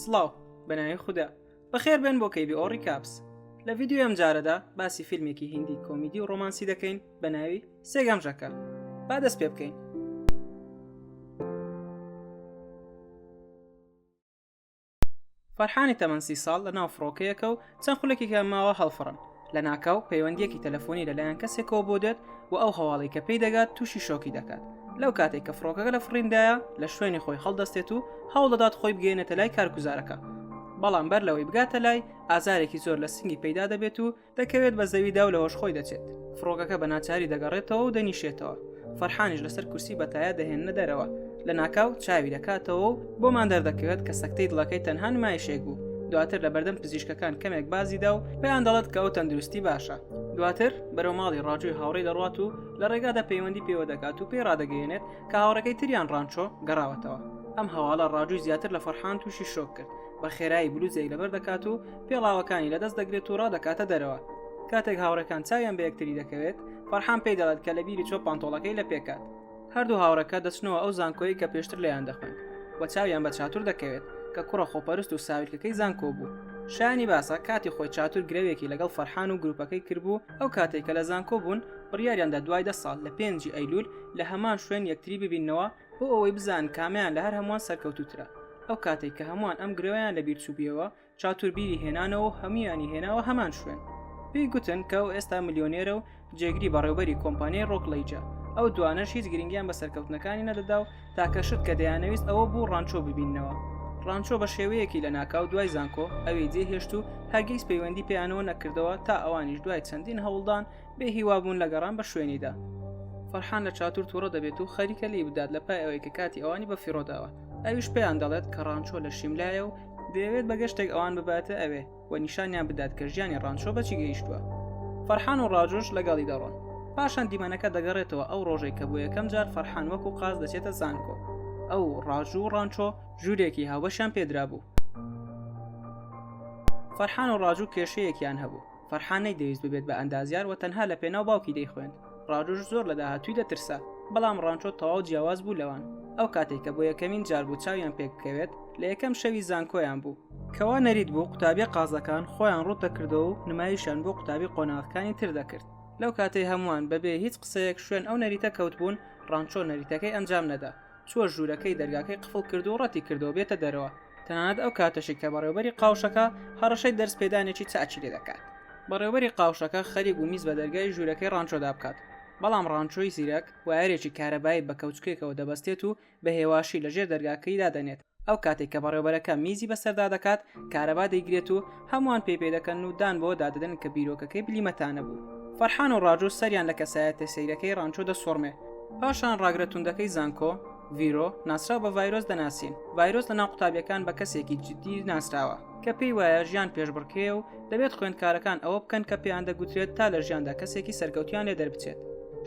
سڵاو بەناوی خوددا بەخێر بێن بۆ کەیبی ئۆڕی کاپس لە ڤیددیو ئەم جارەدا باسی فیلمێکی هندی کۆمیدی و ڕۆمانسی دەکەین بە ناوی سێگەمژەکە با دەست پێ بکەین فەرحانی تەمەنسی ساڵ لە ناو فڕۆکەیەکە و چەند خولەکێکیان ماوە هەڵفڕن لە ناکاو پەیوەندیەکی تەلەفۆنی لەلایەن کەسێکەوە بۆ دێت و ئەو هەواڵی کە پێی دەگات تووشی شۆکی دەکات لەو کاتێک کە فڕۆکەکە لە فڕیندایە لە شوێنی خۆی هەڵدەستێت و هەوڵدەدات خۆی بگەێنێتە لای کارگوزارەکە بەڵام بەر لەوەی بگاتە لای ئازارێکی زۆر لە سنگی پەیدا دەبێت و دەکەوێت بە زەویدا و لەهۆش خۆی دەچێت فڕۆگەکە بە ناچاری دەگەڕێتەوە و دەنیشێتەوە فەرحانیش لەسەر کورسی بەتایە دەهێنە دەرەوە لە ناکاو چاوی دەکاتەوە و بۆمان دەردەکەوێت کە سەکتەی دڵەکەی تەنها نمایشێک بوو دواتر لە بەردەم پزیشکەکان کەمێک بازیدا و پێیان دەڵێت کە ئەو تەندروستی باشە دواتر بەرەو ماڵی ڕاجوی هاوڕێ دەڕات و لە ڕێگادا پەیوەندی پێوە دەکات و پێی ڕادەگەیەنێت کە هاوڕەکەی تریان ڕانچۆ گەڕاوەتەوە ئەم هەواڵە ڕاجوی زیاتر لە فەرحان تووشی شۆک کرد بە خێرایی بلوزێک لەبەر دەکات و پێڵاوەکانی لەدەست دەگرێت و ڕادەکاتە دەرەوە کاتێک هاوڕەکان چاویان بە یەکتری دەکەوێت فەرحان پێی دەڵێت کە لە بیری چۆ پانتۆڵەکەی لە پێکات هەردوو هاوڕەکە دەچنەوە ئەو زانکۆی کە پێشتر لەیان دەخوێن و چاویان بە چاتور دەکەوێت کە کوڕە خۆپەرست و ساویلکەکەی زانکۆ بوو شانی باسە کاتی خۆی چاتور گرەوێکی لەگەڵ فەرحان و گروپەکەی کردبوو ئەو کاتێک کە لە زانکۆ بوون بڕیاریاندا دوای دە ساڵ لە پێنجی ئەیلول لە هەمان شوێن یەکتری ببینەوە بۆ ئەوەی بزان کامیان لە هەر هەمووان سەرکەوتوترە ئەو کاتێک کە هەمووان ئەم گرەوەیان لە بیرچوبیەوە چاتوربیری هێنانەوە و هەمویانی هێناوە هەمان شوێن پێی گوتن کە ئەو ئێستا ملیۆنێرە و جێگری بەڕێوبەری کۆمپانیای ڕۆکلەیجە ئەو دوانەش هیچ گرنگیان بە سەرکەوتنەکانی نەدەدا و تاکە شت کە دەیانەویست ئەوە بوو ڕانچۆ ببینەوە ڕانچۆ بە شێوەیەکی لە ناکاو دوای زانکۆ ئەوی جێهێشت و هەرگیز پەیوەندی پێیانەوە نەکردەوە تا ئەوانیش دوای چەندین هەوڵدان بێ هیوابوون لە گەڕان بە شوێنیدا فەرحان لە چاتور تووڕە دەبێت و خەریکە لی بدات لە پای ئەوەی کە کاتی ئەوانی بە فیڕۆداوە ئەویش پێیان دەڵێت کە ڕانچۆ لە شیملایە و دەیەوێت بە گەشتێک ئەوان بباتە ئەوێ و نیشانیان بدات کە ژیانی ڕانچۆ بەچی گەیشتووە فەرحان و ڕاجوش لەگەڵی دەڕۆن پاشان دیمەنەکە دەگەڕێتەوە ئەو ڕۆژەی کە بۆ یەکەم جار فەرحان وەک و قاز دەچێتە زانکۆ ئەو ڕاژوو و ڕانچۆ ژوورێکی هاوبەشیان پێدرا بوو فەرحان و ڕاجوو کێشەیەکیان هەبوو فەرحان نەیدەویست ببێت بە ئەندازیار و تەنها لە پێناو باوکی دەیخوێند ڕاجوش زۆر لە داهاتووی دەترسا بەڵام ڕانچۆ تەواو جیاواز بوو لەوان ئەو کاتێک کە بۆ یەکەمین جار بوو چاویان پێک بکەوێت لە یەکەم شەوی زانکۆیان بوو کەوا نەریت بوو قوتابیە قازەکان خۆیان ڕوت دەکردەوە و نمایشیان بۆ قوتابی قۆناغەکانی تر دەکرد لەو کاتەی هەمووان بەبێ هیچ قسەیەک شوێن ئەو نەریتە کەوتبوون ڕانچۆ نەریتەکەی ئەنجام نەدا چووە ژوورەکەی دەرگاکەی قفڵ کرد و ڕەتی کردەوە بێتە دەرەوە تەنانەت ئەو کاتەشی کە بەڕێوبەری قاوشەکە هەڕەشەی دەرس پێدانێکی چاچی لێ دەکات بەڕێوبەری قاوشەکە خەریک و میز بە دەرگای ژوورەکەی ڕانچۆدا بکات بەڵام ڕانچۆی زیرەک وایەرێکی کارەبایی بە کەوچکێکەوە دەبەستێت و بە هێواشی لە ژێر دەرگاکەی دادەنێت ئەو کاتێک کە بەڕێوبەرەکە میزی بەسەردا دەکات کارەبا دەیگرێت و هەمووان پێ پێ دەکەن و دان بۆ دادەدەن کە بیرۆکەکەی بلیمەتانە بوو فەرحان و ڕاجۆ سەریان لە کەسایەتە سەیرەکەی ڕانچۆ دەسوڕمێ پاشان ڕاگرە توندەکەی زانکۆ ڤیرۆ ناسراو بە ڤایرۆس دەناسین ڤایرۆس لە ناو قوتابیەکان بە کەسێکی جدی ناسراوە کە پێی وایە ژیان پێشبڕکێ و دەبێت خوێندکارەکان ئەوە بکەن کە پێیان دەگوترێت تا لە ژیاندا کەسێکی سەرکەوتیان لێ دەربچێت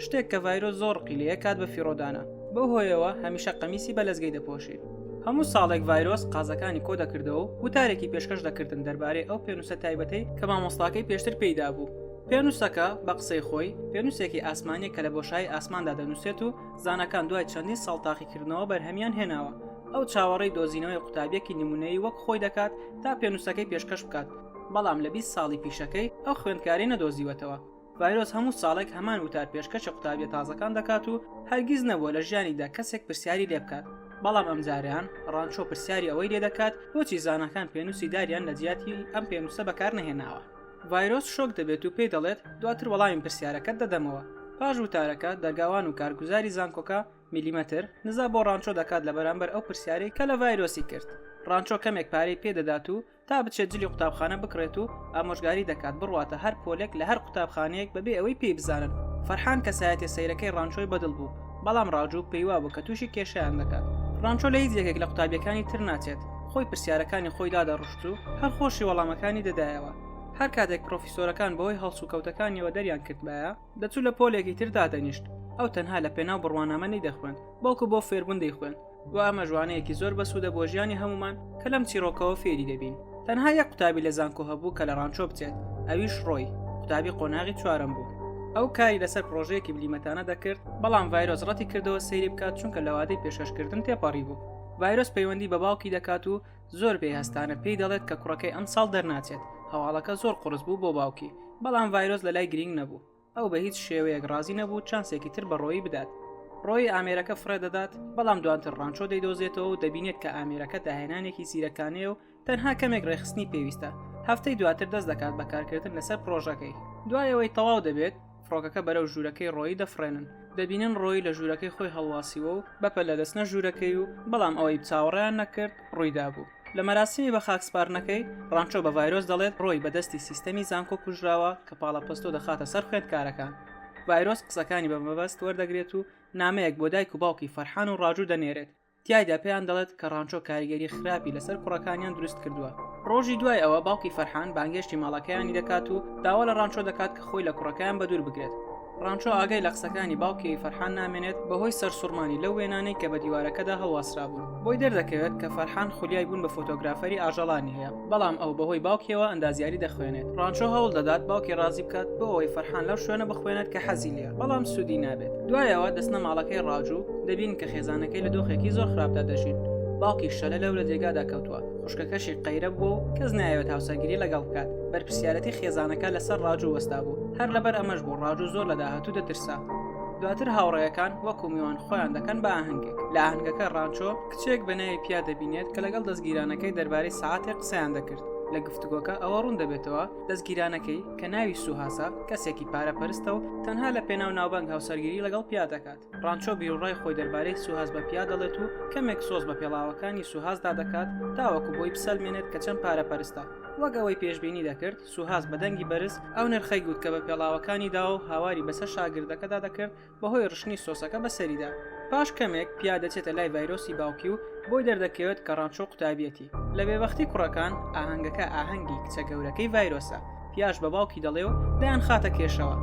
شتێک کە ڤایرۆ زۆر قیلەیە کات بە فیڕۆدانە بەو هۆیەوە هەمیشە قەمیسی بە لەزگەی دەپۆشی هەموو ساڵێک ڤایرۆس قازەکانی کۆ دەکردەوە و تارێکی پێشکەش دەکردن دەربارەی ئەو پێنووسە تایبەتەی کە مامۆستاکەی پێشتر پێیدا بوو پێنووسەکە بە قسەی خۆی پێنووسێکی ئاسمانیە کە لە بۆشایی ئاسماندا دەنووسێت و زانکان دوای چەندین ساڵ تاقیکردنەوە بەرهەمیان هێناوە ئەو چاوەڕێی دۆزینەوەی قوتابیەکی نمونەیی وەک خۆی دەکات تا پێنووسەکەی پێشکەش بکات بەڵام لە 20 ساڵی پیشەکەی ئەو خوێندکاری نەدۆزیوەتەوە ڤایرۆس هەموو ساڵێک هەمان وتار پێشکەشی قوتابیە تازەکان دەکات و هەرگیز نەبووە لە ژیانیدا کەسێک پرسیاری لێ بکات بەڵام ئەم جاریان ڕانچۆ پرسیاری ئەوەی لێ دەکات بۆچی زانەکان پێنووسی داریان لە جیاتی ئەم پێنووسە بەکار نەهێناوە ڤایرۆس شۆک دەبێت و پێی دەڵێت دواتر وەڵامی پرسیارەکەت دەدەمەوە پاش وتارەکە دەرگاوان و کارگوزاری زانکۆکە ملیمەتر نزا بۆ ڕانچۆ دەکات لە بەرامبەر ئەو پرسیارەی کە لە ڤایرۆسی کرد ڕانچۆ کەمێک پارەی پێدەدات و تا بچێت جلی قوتابخانە بکڕێت و ئامۆژگاری دەکات بڕواتە هەر پۆلێک لە هەر قوتابخانەیەک بەبێ ئەوەی پێی بزانن فەرحان کەسایەتە سەیرەکەی ڕانچۆی بەدڵ بوو بەڵام ڕاجوو پێیوابوو کە تووشی کێشیان دەکات ڕانچۆ لە هیچ یەکێک لە قوتابیەکانی تر ناچێت خۆی پرسیارەکانی خۆی دادەڕشت و هەر خۆشی وەڵامەکانی دەدایەوە هەر کاتێک پرۆفیسۆرەکان بەهۆی هەڵسوکەوتەکانیەوە دەریان کردبایە دەچوو لە پۆلێکی تر دادەنیشت ئەو تەنها لە پێناو بڕوانامە نەیدەخوێند بەڵکو بۆ فێربوون دەیخوێند و ئەمە ژوانەیەکی زۆر بەسوودە بۆ ژیانی هەمومان کە لەم چیرۆکەوە فێری دەبین تەنها یە قوتابی لە زانکۆ هەبوو کە لە ڕانچۆ بچێت ئەویش ڕۆی قوتابی قۆناغی چوارم بوو ئەو کاری لەسەر پرۆژەیەکی بلیمەتانە دەکرد بەڵام ڤایرۆس ڕەتی کردەوە سەیری بکات چونکە لەوادەی پێشکەشکردن تێپەڕی بوو ڤایرۆس پەیوەندی بە باوکی دەکات و زۆر پێی هەستانە پێی دەڵێت کە کوڕەکەی ئەم ساڵ دەرناچێت هەواڵەکە زۆر قڕس بوو بۆ باوکی بەڵام ڤایرۆس لە لای گرنگ نەبوو ئەو بە هیچ شێوەیەک ڕازی نەبوو چانسێکی تر بەڕۆیی بدات ڕۆی ئامێرەکە فرە دەدات بەڵام دواتر ڕانچۆ دەیدۆزێتەوە و دەبینێت کە ئامێرەکە داهێنانێکی زیرەکانەیە و تەنها کەمێک ڕێخستنی پێویستە هەفتەی دواتر دەست دەکات بەکارکردن لەسەر پرۆژەکەی دوایەوەی تەواو دەبێت فڕۆکەکە بەرەو ژوورەکەی ڕۆیی دەفڕێنن دەبینن ڕۆی لە ژوورەکەی خۆی هەڵواسیوە و بەپە لە دەستنە ژوورەکەی و بەڵام ئەوەی چاوەڕیان نەکرد ڕوویدا بوو لە مەراسیمی بە خاکسپارنەکەی ڕانچۆ بە ڤایرۆس دەڵێت ڕۆی بەدەستی سیستەمی زانکۆ کوژراوە کە پاڵە پستۆ دەخاتە سەر خوێندکارەکان ڤایرۆس قسەکانی بە مەبەست وەردەگرێت و نامەیەک بۆ دایک و باوکی فەرحان و ڕاجوو دەنێرێت تایدا پێیان دەڵێت کە ڕانچۆ کاریگەری خراپی لەسەر کوڕەکانیان دروست کردووە ڕۆژی دوای ئەوە باوکی فەرحان بانگێشتی ماڵەکەیانی دەکات و داوا لە ڕانچۆ دەکات کە خۆی لە کوڕەکەیان بە دوور بگرێت ڕانچۆ ئاگای لە قسەکانی باوکی فەرحان نامێنێت بەهۆی سەرسوڕمانی لەو وێنانەی کە بە دیوارەکەدا هەڵواسرابوون بۆی دەردەکەوێت کە فەرحان خولیای بوون بە فۆتۆگرافەری ئاژەڵانی هەیە بەڵام ئەو بەهۆی باوکیەوە ئەندازیاری دەخوێنێت ڕانچۆ هەوڵ دەدات باوکی ڕازی بکات بۆ ئەوەی فەرحان لەو شوێنە بخوێنێت کە حەزی لێ بەڵام سوودی نابێت دوایەوە دەستنە ماڵەکەی ڕاجوو دەبین کە خێزانەکەی لە دۆخێکی زۆر خراپدا دەژین باوکی شەلە لەو لە جێگادا کەوتووە خوشکەکەشی قەیرە بووە و کەس نایەوێت هاوسەرگیری لەگەڵ بکات بەرپسیارەتی خێزانەکە لەسەر ڕاجوو وەستا بوو هەر لەبەر ئەمەش بوو ڕاجوو زۆر لە داهاتوو دەترسا دواتر هاوڕێیەکان وەکو میوان خۆیان دەکەن بە ئاهنگێک لە ئاهنگەکە ڕانچۆ کچێک بە ناوی پیا دەبینێت کە لەگەڵ دەستگیرانەکەی دەربارەی سەعاتێک قسەیان دەکرد لە گفتوگۆکە ئەوە ڕوون دەبێتەوە دەستگیرانەکەی کە ناوی سوهاسا کەسێکی پارە پەرستە و تەنها لە پێناو ناوبانگ هاوسەرگیری لەگەڵ پیا دەکات ڕانچۆ بیرڕای خۆی دەربارەی سوهاز بە پیا دەڵێت و کەمێک سۆز بە پێڵاوەکانی سوهازدا دەکات تاوەکو بۆی بسەلمێنێت کە چەند پارە پەرستە وەک ئەوەی پێشببینی دەکرد سوهاز بە دەنگی بەرز ئەو نرخەی گوت کە بە پێڵاوەکانی داوە و هاواری بەسەر شاگردەکەدا دەکرد بەهۆی ڕشتنی سۆسەکە بەسەریدا. پاش کەمێک، پیا دەچێتە لای ڤایرۆسی باوکی و بۆی دەردەکەوێت کە ڕانچۆ قوتابیەتی. لە بێبەختی کوڕەکان، ئاهەنگەکە ئاهەنگی کچە گەورەکەی ڤایرۆسە. پیاش بە باوکی دەڵێ و دەیانخاتە کێشەوە.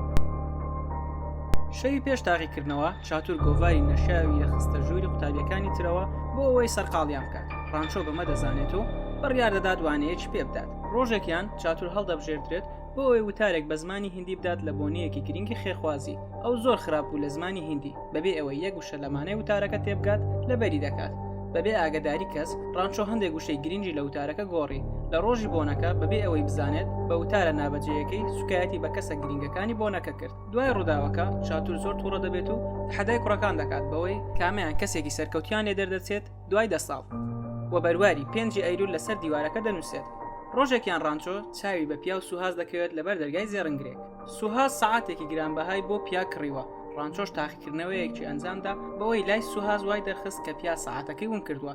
شەوی پێش تاقیکردنەوە، چاتور گۆڤاری نەشیاوی دەخستە ژووری قوتابیەکانی ترەوە بۆ ئەوەی سەرقاڵیان بکات. ڕانچۆ بەمە دەزانێت و بڕیاردەدات وانەیەکی پێبدات. ڕۆژێکیان، چاتور هەڵدەبژێردرێت بۆ ئەوەی وتارێک بە زمانی هندی بدات لە بۆنەیەکی گرنگی خێرخوازی ئەو زۆر خراپ بوو لە زمانی هندی بەبێ ئەوەی یەک وشە لەمانای وتارەکە تێبگات لە بەری دەکات بەبێ ئاگداری کەس ڕانچۆ هەندێک وشەی گرنگی لە وتارەکە گۆڕی لە ڕۆژی بۆنەکە بەبێ ئەوەی بزانێت بە وتارە نابەجێیەکەی سوکایەتی بە کەسە گرنگەکانی بۆنەکە کرد دوای ڕووداوەکە چاتور زۆر تووڕە دەبێت و حەدای کوڕەکان دەکات بەوەی کامیان کەسێکی سەرکەوتیان لێ دەردەچێت دوای دە ساڵ. و بەرواری پێنجی ئەیلول لەسەر دیوارەکە دەنووسێت. ڕۆژێکیان ڕانچۆ چاوی بە پیاو سوهاس دەکەوێت لەبەر دەرگای زێڕنگرێک. سوهاس سەعاتێکی گرانبەهای بۆ پیا کڕیوە، ڕانچۆش تاقیکردنەوەیەکی ئەنجامدا بەوەی لای سوهاس وای دەرخست کە پیا سەعاتەکەی ون کردووە.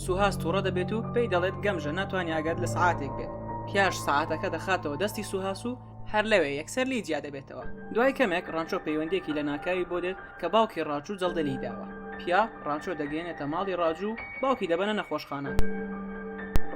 سوهاس توڕە دەبێت و پێی دەڵێت گەمژە ناتوانێت ئاگات لە سەعاتێک بێت. پیاش سەعاتەکە دەخاتەوە دەستی سوهاس و. هەر لەوێ یەکسەر لی جیا دەبێتەوە دوای کەمێک ڕانچۆ پەیوەندێکی لە ناکاوی بۆ دێت کە باوکی ڕاجوو جەڵدە لی داوە پیا ڕانچۆ دەگەێنێتە ماڵی ڕاجوو باوکی دەبەنە نەخۆشخانە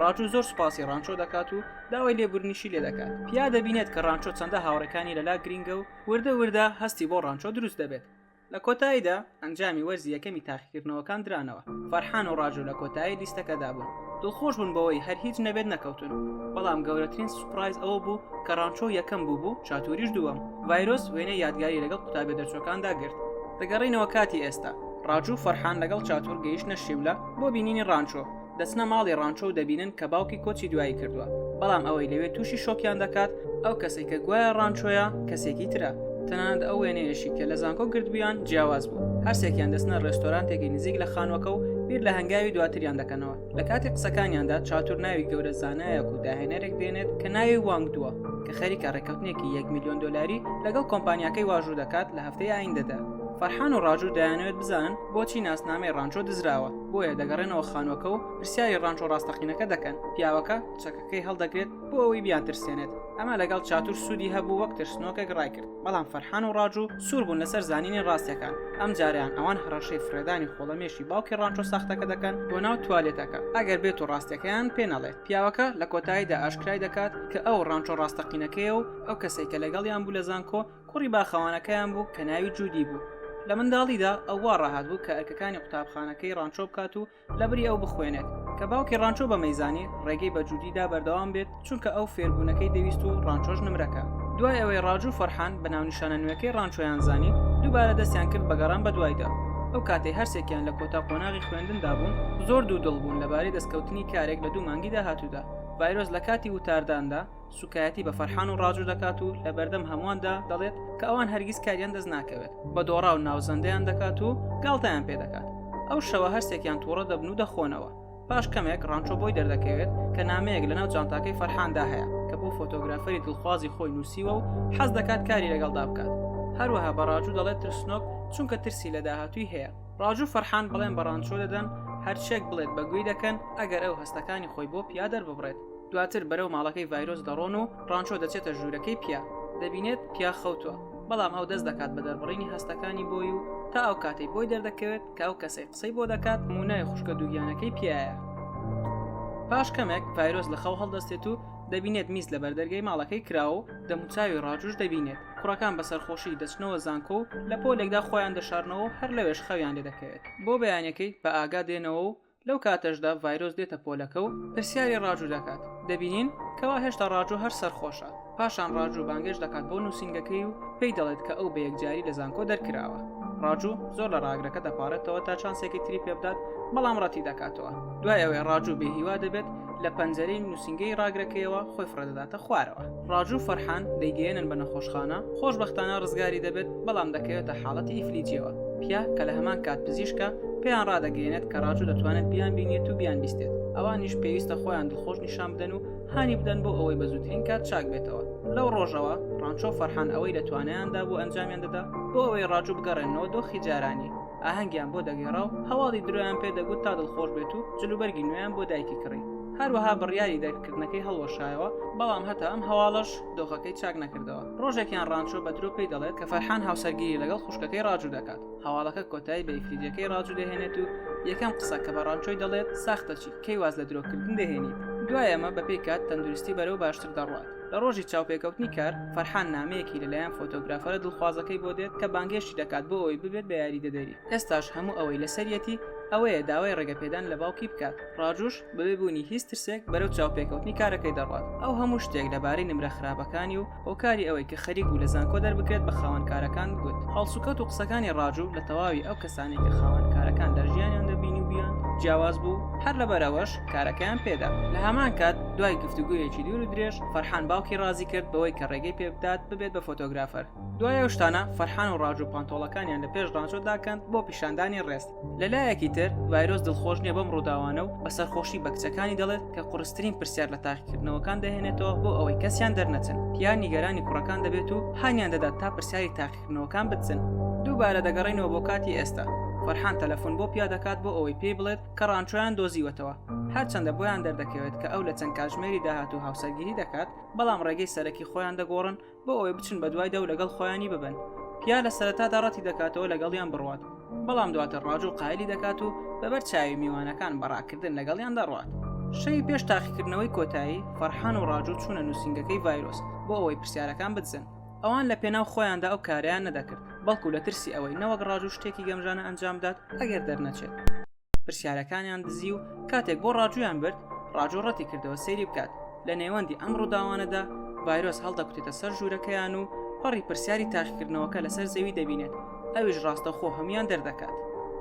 ڕاجوو زۆر سوپاسی ڕانچۆ دەکات و داوای لێبورنیشی لێ دەکات پیا دەبینێت کە ڕانچۆ چەندە هاوڕەکانی لەلا گرینگە و وردە وردە هەستی بۆ ڕانچۆ دروست دەبێت لە کۆتاییدا ئەنجامی وەرزی یەکەمی تاقیکردنەوەکان درانەوە فەرحان و ڕاجۆ لە کۆتایی لیستەکەدا بوون دڵخۆش بوون بەوەی هەر هیچ نەبێت نەکەوتون بەڵام گەورەترین سوپرایز ئەوە بوو کە ڕانچۆ یەکەم بوو بوو چاتوریش دووەم ڤایرۆس وێنە یادگاری لەگەڵ قوتابێ دەرچوەکاندا گرت دەگەڕینەوە کاتی ئێستا ڕاجو فەرحان لەگەڵ چاتور گەیشتنە شیملە بۆ بینینی ڕانچۆ دەچنە ماڵی ڕانچۆ و دەبینن کە باوکی کۆچی دوایی کردووە بەڵام ئەوەی لەوێ تووشی شۆکیان دەکات ئەو کەسێک کە گوایە ڕانچۆیە کەسێکی ترە تەنانەت ئەو وێنەیەشی کە لە زانکۆ گردبیان جیاواز بوو هەرسێکیان دەستنە ڕێستۆرانتێکی نزیک لە خانوەکە و بیر لە هەنگاوی دواتریان دەکەنەوە لە کاتی قسەکانیاندا چاتور ناوی گەورە زانایەک و داهێنەرێک دێنێت کە ناوی وانگ دووە کە خەریکە ڕێککەوتنێکی 1 میلیۆن دلاری لەگەڵ کۆمپانیاکەی واژوو دەکات لە هەفتەی ئایندەدا فەرحان و ڕاجوو دەیانەوێت بزانن بۆچی ناسنامەی ڕانچۆ دزراوە بۆیە دەگەڕێنەوە خانوەکە و پرسیاری ڕانچ و ڕاستەقینەکە دەکەن پیاوەکە چەکەکەی هەڵدەگرێت بۆ ئەوەی بیان ترسێنێت ئەمە لەگەڵ چاتور سوودی هەبوو وەک ترسنۆکێک ڕایکرد بەڵام فەرحان و ڕاج و سوور بوون لەسەر زانینی ڕاستەکان ئەم جاریان ئەوان هەڕەشەی فرێدانی خۆڵەمێشی باوکی ڕانچۆ ساختەکە دەکەن بۆ ناو توالێتەکە ئەگەر بێت و ڕاستەکەیان پێ نەڵێت پیاوەکە لە کۆتاییدا ئاشکرای دەکات کە ئەو ڕانچۆ ڕاستەقینەکەی و ئەو کەسێکە لەگەڵیان بوو لە زانکۆ کوڕی باخەوانەکەیان بوو کە ناوی جوودی بوو. لە منداڵیدا ئەو وا ڕاهات بوو کە ئەرکەکانی قوتابخانەکەی ڕانچۆ بکات و لەبری ئەو بخوێنێت. کە باوکی ڕانچۆ بەمەی زانی، ڕێگەی بە جوودی دا بەردەوام بێت، چونکە ئەو فێربوونەکەی دەویست و ڕانچۆش نمرەکە. دوای ئەوەی ڕاج و فەرحان بە ناونیشانە نوێکەی ڕانچۆیان زانی، دووبارە دەستیان کرد بە گەڕان بەدوایدا. ئەو کاتەی هەرسێکیان لە کۆتا قۆناغی خوێندندا بوون، زۆر دوودڵ بوون لەبارەی دەستکەوتنی کارێک لە دوو مانگی داهاتوودا. ڤایرۆس لە کاتی وتارداندا، سوکایەتی بە فەرحان و ڕاجو دەکات و لە بەردەم هەموواندا دەڵێت کە ئەوان هەرگیز کاریان دەست ناکەوێت بە دۆڕا و ناوزەندەیان دەکات و گاڵتەیان پێ دەکات ئەو شەوە هەرسێکیان تووڕە دەبن و دەخۆنەوە پاش کەمێک ڕانچۆ بۆی دەردەکەوێت کە نامەیەک لەناو جانتاکەی فەرحاندا هەیە کە بۆ فۆتۆگرافەری دڵخوازی خۆی نووسیوە و حەز دەکات کاری لەگەڵدا بکات هەروەها بە ڕاجو دەڵێت ترسنۆک چونکە ترسی لە داهاتووی هەیە ڕاجو فەرحان بڵێن بە ڕانچۆ دەدەن هەرچێک بڵێت بەگوێی دەکەن ئەگەر ئەو هەستەکانی خۆی بۆ پیادەر ببڕێت دواتر بەرەو ماڵەکەی ڤایرۆس دەڕۆن و ڕانچۆ دەچێتە ژوورەکەی پیا دەبینێت پیا خەوتوە بەڵام ئەو دەست دەکات بە دەربڕینی هەستەکانی بۆی و تا ئەو کاتەی بۆی دەردەکەوێت کە ئەو کەسەی قسەی بۆ دەکات مونای خوشکە دووگیانەکەی پیایە پاش کەمێک ڤایرۆس لە خەو هەڵدەستێت و دەبینێت میز لە بەردەرگەی ماڵەکەی کراوە و دەموچاوی ڕاجوش دەبینێت کوڕەکان بە سەرخۆشی دەچنەوە زانکۆ و لە پۆلێکدا خۆیان دەشارنەوە هەر لەوێش خەویان لێ دەکەوێت بۆ بەیانەکەی بە ئاگا دێنەوە و لەو کاتەشدا ڤایرۆس دێتە پۆلەکە و پرسیاری ڕاجوو دەکات، دەبینین کەوا هێشتا ڕاجوو هەر سەرخۆشە، پاشان ڕاجوو بانگێشت دەکات بۆ نووسینگەکەی و پێی دەڵێت کە ئەو بەیەکجاری لە زانکۆ دەرکراوە. ڕاجوو زۆر لە ڕاگرەکە دەپاڕێتەوە تا چانسێکی تری پێبدات، بەڵام ڕەتیدەکاتەوە. دوای ئەوەی ڕاجوو بێهیوا دەبێت، لە پەنجەرەی نووسینگەی ڕاگرەکەیەوە خۆی فڕێدەداتە خوارەوە. ڕاجوو فەرحان دەیگەیەنن بە نەخۆشخانە، خۆشبەختانە ڕزگاری دەبێت، بەڵام دەکەوێتە حاڵەتی ئیفلیجییەوە، پیا کە لە هەمان کات پزیشکە، پێیان ڕادەگەیەنێت کە ڕاجوو دەتوانێت بیانبینێت و بیانبیستێت، ئەوانیش پێویستە خۆیان دڵخۆش نیشان بدەن و هانی بدەن بۆ ئەوەی بە زووترین کات چاک بێتەوە. لەو ڕۆژەوە، ڕانچۆ و فەرحان ئەوەی لە توانایاندا بوو ئەنجامیان دەدا، بۆ ئەوەی ڕاجوو بگەڕێننەوە دۆخی جارانی، ئاهەنگیان بۆ دەگێڕا و هەواڵی درۆیان پێ دەگوت تا دڵخۆش بێت و جلوبەرگی نوێیان بۆ دایکی کڕی. هەروەها بڕیاری دەرکردنەکەی هەڵوەشایەوە بەڵام هەتا ئەم هەواڵەش دۆخەکەی چاک نەکردەوە ڕۆژێکیان ڕانچۆ بە درۆ پێی دەڵێت کە فەرحان هاوسەرگیری لەگەڵ خوشکەکەی ڕاجوو دەکات هەواڵەکە کۆتایی بە یکریدیەکەی ڕاجوو دەهێنێت و یەکەم قسە کە بە ڕانچۆی دەڵێت ساختەچی کەی واز لە درۆکردن دەهێنیت دوای ئەمە بەپی کات تەندروستی بەرەو باشتر دەڕوات لە ڕۆژی چاوپێکەوتنی کار فەرحان نامەیەکی لەلایەن فۆتۆگرافەرە دڵخوازەکەی بۆ دێت کە بانگێشتی دەکات بۆ ئەوی ببێت بە یاریدەدەری ئێستاش هەموو ئەوەی لەسەرەتی ئەوەیە داوای ڕێگەپێدان لە باوکی بکات ڕاجوش بەبێ بوونی هیچ ترسێک بەرەو چاوپێکەوتنی کارەکەی دەڕوات ئەو هەموو شتێک لەبارەی نمرە خراپەکانی و هۆکاری ئەوەی کە خەریک بوو لە زانکۆ دەربکرێت بە خاوەنکارەکان گوت هەڵسوکەوت و قسەکانی ڕاجو لە تەواوی ئەو کەسانەی کە خاوەنکارەکان لە ژیانیان دەبینیوبیان جیاواز بوو هەر لەبەر ئەوەش کارەکەیان پێدا لە هەمان کات دوای گفتوگۆیەکی دوور و درێژ فەرحان باوکی ڕازی کرد بەوەی کە ڕێگەی پێبدات ببێت بە فۆتۆگرافەر دوای ئەو شتانە فەرحان و ڕاجو پانتۆڵەکانیان لە پێش ڕانچۆ داکەند بۆ پیشاندانی ڕێز لەلایەکی تر ڤایرۆس دڵخۆش نییە بەم ڕووداوانە و بە سەرخۆشی بە کچەکانی دەڵێت کە قڕسترین پرسیار لە تاقیکردنەوەکان دەهێنێتەوە بۆ ئەوەی کەسیان دەرنەچن پیان نیگەرانی کوڕەکان دەبێت و هانیان دەدات تا پرسیاری تاقیکردنەوەکان بچن دووبارە دەگەڕینەوە بۆ کاتی ئێستا فەرحان تەلەفۆن بۆ پیا دەکات بۆ ئەوەی پێی بڵێت کە ڕانچۆیان دۆزیوەتەوە هەرچەندە بۆیان دەردەکەوێت کە ئەو لە چەند کاژمێری داهات و هاوسەرگیری دەکات بەڵام ڕێگەی سەرەکی خۆیان دەگۆڕن بۆ ئەوەی بچن بە دوایدا و لەگەڵ خۆیانی ببن پیا لە سەرەتادا ڕەتی دەکاتەوە لەگەڵیان بڕوات بەڵام دواتر ڕاج و قایلی دەکات و بەبەر چاوی میوانەکان بەڕاکردن لەگەڵیان دەڕوات شەوی پێش تاقیکردنەوەی کۆتایی فەرحان و ڕاجو چوونە نووسنگەکەی ڤایرۆس بۆ ئەوەی پرسیارەکان بدزن ئەوان لە پێناو خۆیاندا ئەو کاریان نەدەکرد بەڵکو لە ترسی ئەوەی نەوەک ڕاجو شتێکی گەمژانە ئەنجامدات ئەگەر دەرنەچێت پرسیارەکانیان دزی و کاتێک بۆ ڕاجویان برد ڕاجۆ ڕەتی کردەوە سەیری بکات لە نێوەندی ئەم ڕووداوانەدا ڤایرۆس هەڵدەکوتێتە سەر ژوورەکەیان و پەڕی پرسیاری تاقیکردنەوەکە لەسەر زەوی دەبینێت ئەویش ڕاستەوخۆ هەمویان دەردەکات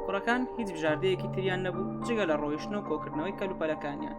کوڕەکان هیچ بژاردەیەکی تریان نەبوو جگە لە ڕۆیشتن و کۆکردنەوەی کەلوپەلەکانیان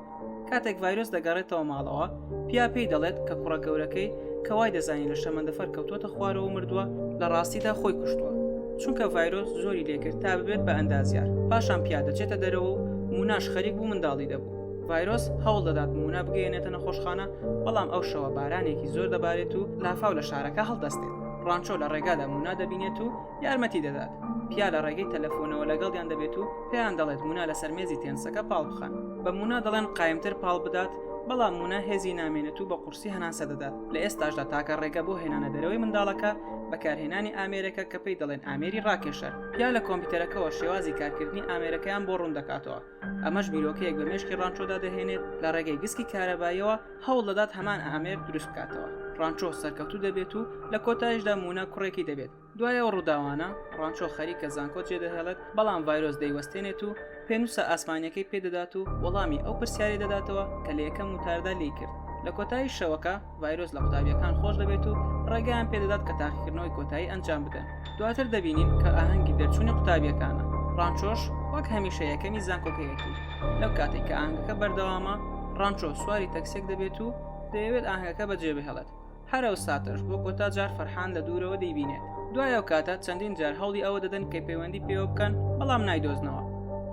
کاتێک ڤایرۆس دەگەڕێتەوە ماڵەوە پیا پێی دەڵێت کە کوڕە گەورەکەی کە وای دەزانین لە شەمەندەفەر کەوتوتە خوارەوە مردووە لە ڕاستیدا خۆی کوشتووە چونکە ڤایرۆس زۆری لێکرد تا ببێت بە ئەندازیار پاشان پیا دەچێتە دەرەوە و موناش خەریک بوو منداڵی دەبوو ڤایرۆس هەوڵ دەدات مونا بگەێنێتە نەخۆشخانە بەڵام ئەو شەوە بارانێکی زۆر دەبارێت و لافاو لە شارەکە هەڵدەستێت ڕانچۆ لە ڕێگادا مونا دەبینێت و یارمەتی دەدات. پیا لە ڕێگەی تەلەفۆنەوە لەگەڵیان دەبێت و پێیان دەڵێت مونا لەسەر مێزی تێنسەکە پاڵ بخەن. بە مونا دەڵێن قایمتر پاڵ بدات، بەڵام مونا هێزی نامێنێت و بە قورسی هەناسە دەدات. لە ئێستاشدا تاکە ڕێگە بۆ هێنانە دەرەوەی منداڵەکە، بەکارهێنانی ئامێرێکە کە پێی دەڵێن ئامێری ڕاکێشەر. پیا لە کۆمپیوتەرەکەوە شێوازی کارکردنی ئامێرەکەیان بۆ ڕوون دەکاتەوە. ئەمەش بیرۆکەیەک بە مێشکی ڕانچۆدا دەهێنێت، لە ڕێگەی گسکی کارەباییەوە هەوڵ دەدات هەمان ئامێر دروست بکاتەوە. ڕانچۆ سەرکەوتوو دەبێت و لە کۆتاییشدا مونا کوڕێکی دەبێت. دوای ئەو ڕووداوانە، ڕانچۆ خەریکە زانکۆ جێدەهێڵێت، بەڵام ڤایرۆس دەیوەستێنێت و پێنووسە ئاسمانییەکەی پێ دەدات و وەڵامی ئەو پرسیارەی دەداتەوە کە لە یەکەم وتاردا لێی کرد. لە کۆتایی شەوەکە، ڤایرۆس لە قوتابییەکان خۆش دەبێت و ڕێگەیان پێ دەدات کە تاقیکردنەوەی کۆتایی ئەنجام بدەن. دواتر دەبینین کە ئاهەنگی دەرچوونی قوتابییەکانە. ڕانچۆش وەک هەمیشە یەکەمی زانکۆکەیەتی. لەو کاتەی کە ئاهەنگەکە بەردەوامە، ڕانچۆ سواری تەکسییەک دەبێت و دەیەوێت ئاهەنگەکە بەجێبهێڵێت. هەر ئەو ساتەش بۆ کۆتا جار فەرحان لە دوورەوە دەیبینێت دوای ئەو کاتە چەندین جار هەوڵی ئەوە دەدەن کە پەیوەندی پێوە بکەن بەڵام نایدۆزنەوە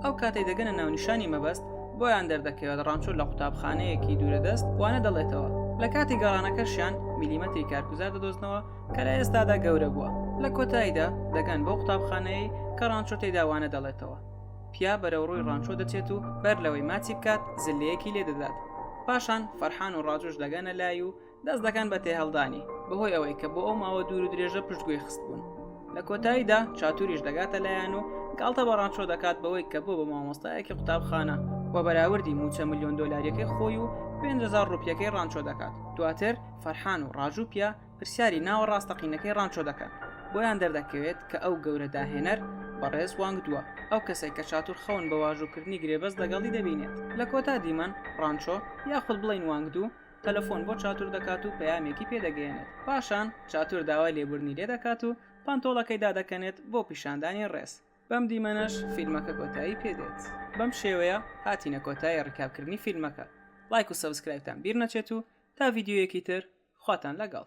ئەو کاتەی دەگەنە ناونیشانی مەبەست بۆیان دەردەکەوێت ڕانچۆ لە قوتابخانەیەکی دوورە دەست وانە دەڵێتەوە لە کاتی گەڕانەکەشیان میلیمەتری کارگوزار دەدۆزنەوە کە لە ئێستادا گەورە بووە لە کۆتاییدا دەگەن بۆ قوتابخانەیە کە ڕانچۆ تێداوانە دەڵێتەوە پیا بەرەو ڕووی ڕانچۆ دەچێت و بەر لەوەی ماچی بکات زلەیەکی لێ دەدات پاشان فەرحان و ڕاجۆش دەگەنە لای و دەست دەکەن بە تێهەڵدانی بەهۆی ئەوەی کە بۆ ئەو ماوە دوور و درێژە پشتگوێ خست بوون لە کۆتاییدا چاتوریش دەگاتە لایەن و گاڵتە بە ڕانچۆ دەکات بەوەی کە بۆ بە مامۆستایەکی قوتابخانە و بەراوردی موچە میلیۆن دۆلاریەکەی خۆی و 500 ڕوپیەکەی ڕانچۆ دەکات دواتر فەرحان و ڕاژوپیا پرسیاری ناوە ڕاستەقینەکەی ڕانچۆ دەکەن بۆیان دەردەکەوێت کە ئەو گەورە داهێنەر بەڕێز وانگ دووە ئەو کەسێک کە چاتور خەون بە واژووکردنی گرێبەست لەگەڵی دەبینێت لە کۆتا دیمەن ڕانچۆ یاخود بڵین وانگ دوو تەلەفۆن بۆ چاتور دەکات و پەیامێکی پێ دەگەیەنێت پاشان چاتور داوای لێبوردنی لێ دەکات و پانتۆڵەکەی دادەکەنێت بۆ پیشاندانی ڕێز بەم دیمەنەش فیلمەکە کۆتایی پێ دێت بەم شێوەیە هاتینە کۆتایی ڕیکابکردنی فیلمەکە لایک و سەبسکرایبتان بیر نەچێت و تا ڤیددیویەکی تر خواتان لەگەڵ